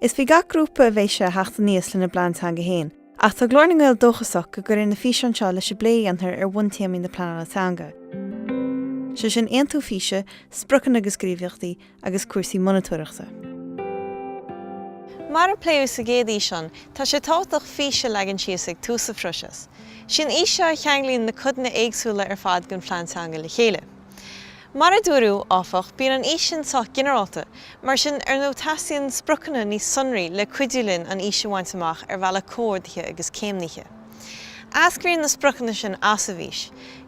Is faoi gach grúpa a bheidh sé a theacht aníos lena bplean teanga féin, ach tá Glór na nGael dóchasach go gcuirfidh na físeáin seo leis an bplé a dhéanfar ar bhuntéamaí na pleanála teanga, sé sin aontú físe, spriocanna agus gníomhaíochtaí, agus cúrsaí monatóireachta. Mar a pléadh sa gcéad fhíseán, tá sé tábhachtach fís a leagan síos ag tús an phróiseas. Sí an fhís seo a cheanglaíonn na codanna éagsúla ar fad den phlean teanga le chéile. Mar a dúradh, áfach, bíonn an fhís sin sách ginearálta, mar sin, ar ndóigh, teastaíonn spriocanna níos sonraí le cuidiú linn an fhís a bhaint amach ar bhealach comhordaithe agus céimnithe. Eascraíonn na spriocanna sin as an bhfís.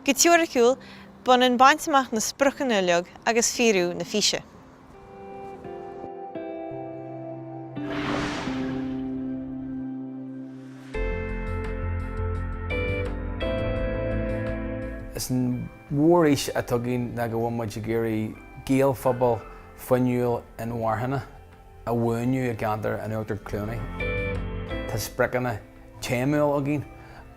Go teoiriciúil, b'ionann baint amach na spriocanna uilig agus fíorú na físe. Is an mhórfhís atá againn ná go bhfuil muid ag iarraidh Gaelphobal fuinniúil inmharthana a bhuanú i gceantar an Uachtar Chluanaí. Tá spriocanna téamúil againn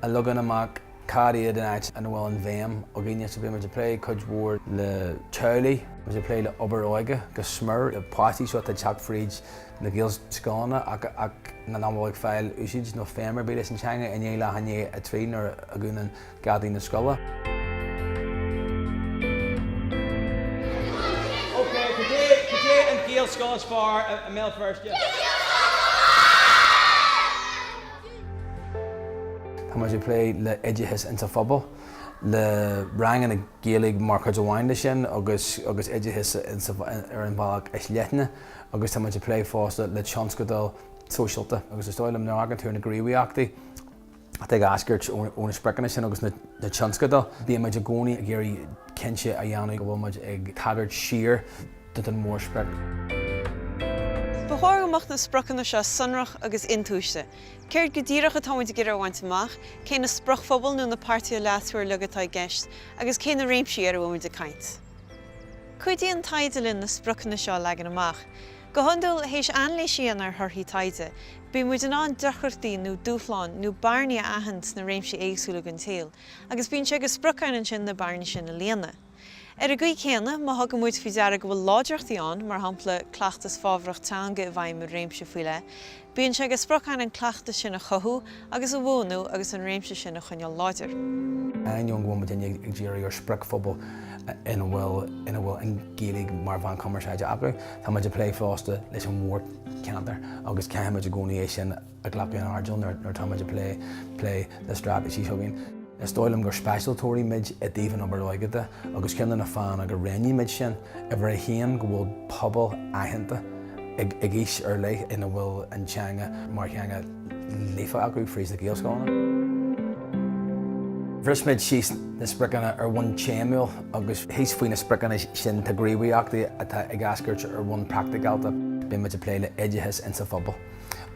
a leagann amach cad iad an áit ina bhfuil an bhéim againne. So bhí muid ag plé cuid mhór le teaghlaigh, bhí muid ag plé le obair óige go smior, le páistí seo atá ag teacht fríd na Gaelscoileanna ach nach bhfuil ag fáil úsáid nó feidhm ar bith leis an teanga i ndiaidh leath i ndiaidh a trí nuair a dhúnann geataí na scoile. Ok, cad é an Gaelscoil is fearr i mBéal Feirste? Tá muid ag plé le oideachas insa phobal, le ranganna Gaeilge mar chuid amháin de sin agus oideachas ar an bhealach is leithne agus tá muid ag plé fosta le tionscadail sóisialta agus is dóigh liom nuair a thagann tú ar na gníomhaíochtaí atá ag eascairt ó na spriocanna sin agus na tionscadail, bíonn muid i gcónaí ag iarraidh cinnte a dhéanamh go bhfuil muid ag tagairt siar don mhórsprioc. Ba chóir go mbeadh na spriocanna seo sonrach agus intomhaiste. Céard go díreach atá muid ag iarraidh a bhaint amach, cé na spriocphobail nó na páirtithe leasmhara uilig atá i gceist, agus cé na réimsí ar a bhfuil muid ag caint? Cuidíonn taighde linn na spriocanna seo a leagan amach. Go hiondúil, théis anailís a dhéanamh ar thorthaí taighde, bíonn muid in ann deacrachtaí nó dúshláin nó bearnaí a aithint sna réimsí éagsúla den tsaol agus bíonn sé de sprioc againn ansin na bearnaí sin a líonadh. Ar an gcaoi chéanna, má thugann muid faoi deara go bhfuil láidreachtaí ann, mar shampla, cleachtas fabhrach teanga i bhfeidhm i réimse faoi leith, Bíonn sé de sprioc againn an cleachtas sin a chothú agus a bhuanú agus an réimse sin a choinneáil láidir. Ainneoin go bhfuil muidinne ag díriú ar spriocphobal ina bhfuil an Ghaeilge mar mheán cumarsáide acu, tá muid ag plé fosta leis an mhórcheantar agus caithfimid i gcónaí é sin a ghlacadh in airdeall nuair atá muid ag plé le straitéisí s'againn. Is dóigh liom gur speisialtóirí muid i dtaobh an obair óige de agus ceann de na fáthanna gur roghnaigh muid sin, uimhir a haon, go bhfuil pobal aitheanta ag aois ar leith ina bhfuil an teanga mar theanga líofa acu fríd na Gaelscoileanna. Bhris muid síos na spriocanna ar bhonn téamúil agus thíos faoi na spriocanna sin tá gníomhaíochtaí atá ag eascairt ar bhonn praicticálta. Beidh muid ag plé le oideachas insa phobal.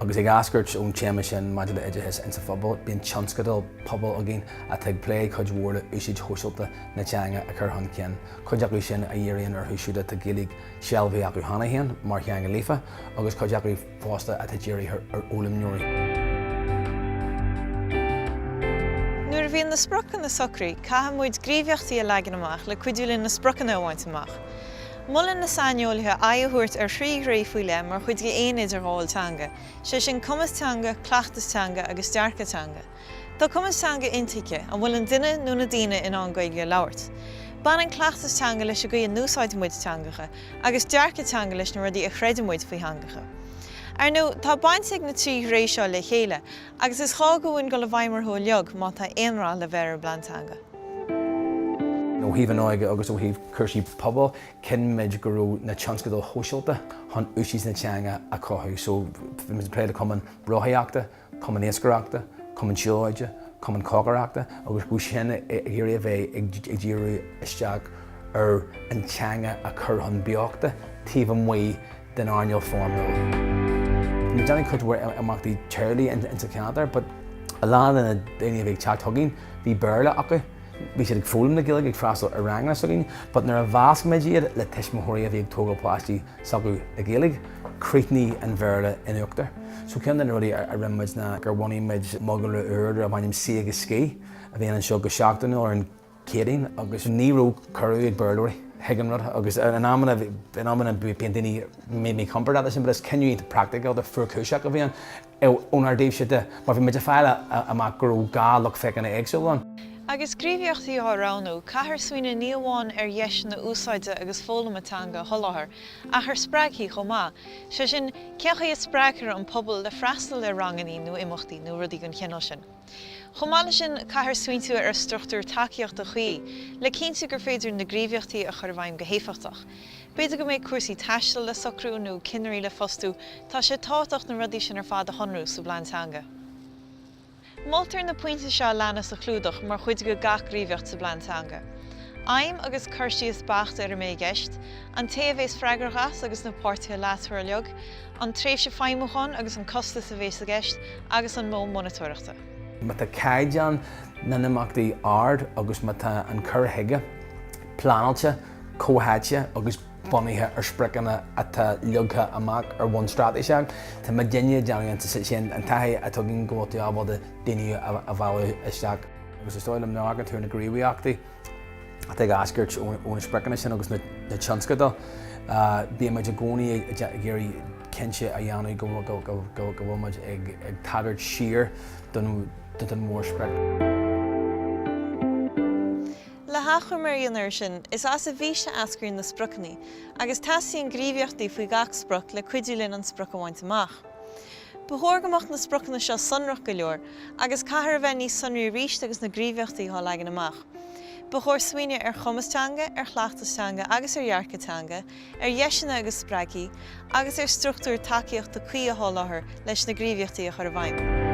Agus ag eascairt ón téama sin maidir le oideachas insa phobal, bíonn tionscadal pobail againn atá ag plé cuid mhór le úsáid shóisialta na teanga a chur chun cinn, cuid acu sin a dhíríonn orthu siúd atá Gaeilge sealbhaithe acu cheana féin mar theanga líofa agus cuid acu fosta atá dírithe ar fhoghlaimeoirí. Nuair a bhíonn na spriocanna socraithe, caithfidh muid gníomhaíochtaí a leagan amach le cuidiú linn na spriocanna a bhaint amach. Molann na saineolaithe aghaidh a thabhairt ar thrí réimse faoi leith mar chuid d'aon idirghabháil teanga, sé sin cumas teanga, cleachtas teanga agus dearcadh teanga. Tá cumas teanga intuigthe, an bhfuil an duine nó na daoine in ann Gaeilge a labhairt? Baineann cleachtas teanga leis an gcaoi a n-úsáideann muid teangacha, agus dearcadh teanga leis na rudaí a chreideann muid faoi theangacha. Ar ndóigh, tá baint ag na trí réimse seo le chéile, Agus is gá dhúinn dul i bhfeidhm orthu uilig má tá aon rath le bheith ar an bPlean Teanga. Ó thaobh an óige agus ó thaobh cúrsaí pobail, chinn muid go raibh na tionscadail shóisialta chun úsáid na teanga a chothú. So, bhí muid ag plé le cumann rothaíochta, cumann iascaireachta, cumann siúlóide, cumann cócaireachta agus mar sin ag iarraidh a bheith ag díriú isteach ar an teanga a chur chun beochta taobh amuigh den airneál foirmiúil. Ní dhéanann cuid mhór imeachtaí teaghlaigh ins sa cheantar but a lán de na daoine a bhí ag teacht chugainn, bhí Béarla acu, bhí siad ag foghlaim na Gaeilge, ag freastal ar ranganna s'againn but nuair a mheasc muid iad le tuismitheoirí a bhí ag tógáil páistí s'acu le Gaeilge, críochnaíonn an Béarla in uachtar. So ceann de na rudaí a rinne muid ná gur bhunaigh muid mogall úr darbh ainm Suí agus Scíth a bhíonn anseo go seachtainiúil ar an Céadaoin agus ní raibh cuireadh ag Béarlóirí chuig an rud agus in amanna bíonn daoine míchompordach leis sin but is cinneadh practicalta fuarchúiseach a bhí ann ónár dtaobhse de mar bhí muid ag fáil amach go raibh dhá lucht féachana éagsúil ann. Agus gníomhaíochtaí á roghnú, caithfear smaoineamh ní amháin ar dheiseanna úsáide agus foghlama teanga a sholáthar ach ar spreagthaí chomh maith, sé sin, cén chaoi a spreagthar an pobal le freastal le rangannaí nó imeachtaí nó rudaí den chineál sin. Chomh maith leis sin, caithfear smaointiú ar struchtúr tacaíochta chuí le cinntiú gur féidir na gníomhaíochtaí a chur i bhfeidhm go héifeachtach. B'fhéidir go mbeidh cúrsaí taistil le socrú nó cinnirí le fostú, tá sé tábhachtach na rudaí sin ar fad a shonrú sa bplean teanga. Moltar na pointe seo a leanas a chlúdach mar chuid de gach gníomhaíocht sa bplean teanga, Aidhm agus cur síos beacht ar a mbeidh i gceist, an té a bheas freagrach as agus na páirtithe leasmhara uilig, an tréimhse feidhmiúcháin agus an costas a bheas i gceist, agus an modh monatóireachta. má tá caighdeán na n-imeachtaí ard agus má tá an cur chuige pleanáilte, comhtháite agus bunaithe ar spriocanna atá leagtha amach ar bhonn straitéiseach, tá muidinne ag déanamh amach, sin an taithí a thugann go bhfuiltear ábalta daoine a mhealladh isteach. Agus is dóigh liom má amharctar ar na gníomhaíochtaí. atá ag eascairt ó na spriocanna sin agus na tionscadail, bíonn muid i gcónaí ag iarraidh cinnte a dhéanamh go bhfuil muid ag tagairt siar don mhórsprioc. Le hachoimre a dhéanamh air sin, is as an bhfís a eascraíonn na spriocanna, agus teastaíonn gníomhaíochtaí faoi gach sprioc le cuidiú linn an sprioc a bhaint amach. Ba chóir go mbeadh na spriocanna seo sonrach go leor, agus caithfear a bheith níos sonraí arís agus na gníomhaíochtaí á leagan amach. Ba chóir smaoineamh ar chumas teanga, ar chleachtas teanga agus ar dhearcadh teanga, ar dheiseanna agus spreagthaí, agus ar struchtúir tacaíochta cuí a sholáthar leis na gníomhaíochtaí a chur i bhfeidhm.